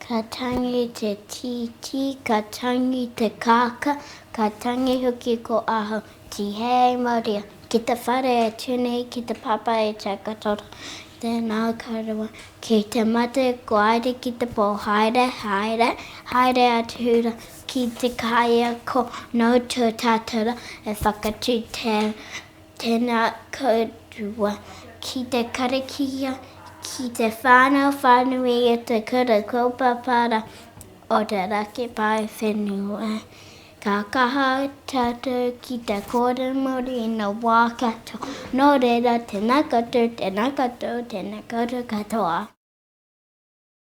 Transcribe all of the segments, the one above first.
Ka tangi te tītī, ka tangi te kākā, ka tangi hoki ko ahau, Tihei Maria, ki te whare e tū nei ki te pāpā e Takatoto, tēnā koroua, ki te mate ko Aire ki te pō, haere, haere, haere atu rā ki te kaiako nō tō tātou rā e whakatū tēnā. Tēnā kōrua ki te karakia, ki te whānau whānui i te Kura Kaupapa o te Raki Paewhenua. Ka kaha tātou ki te kōrero Māori i ngā wā katoa. Nō reira, tēnā koutou, tēnā koutou, tēnā koutou katoa.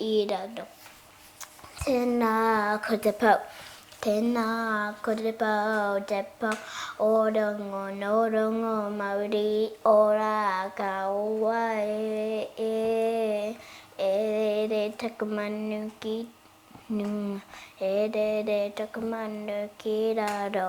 I raro. Tēnā ko te pou. Tēnā ko te pou, te pou o rongo, nō rongo mauri ora ka ua e, e, e rere taku manu ki runga, e rere taku manu ki raro,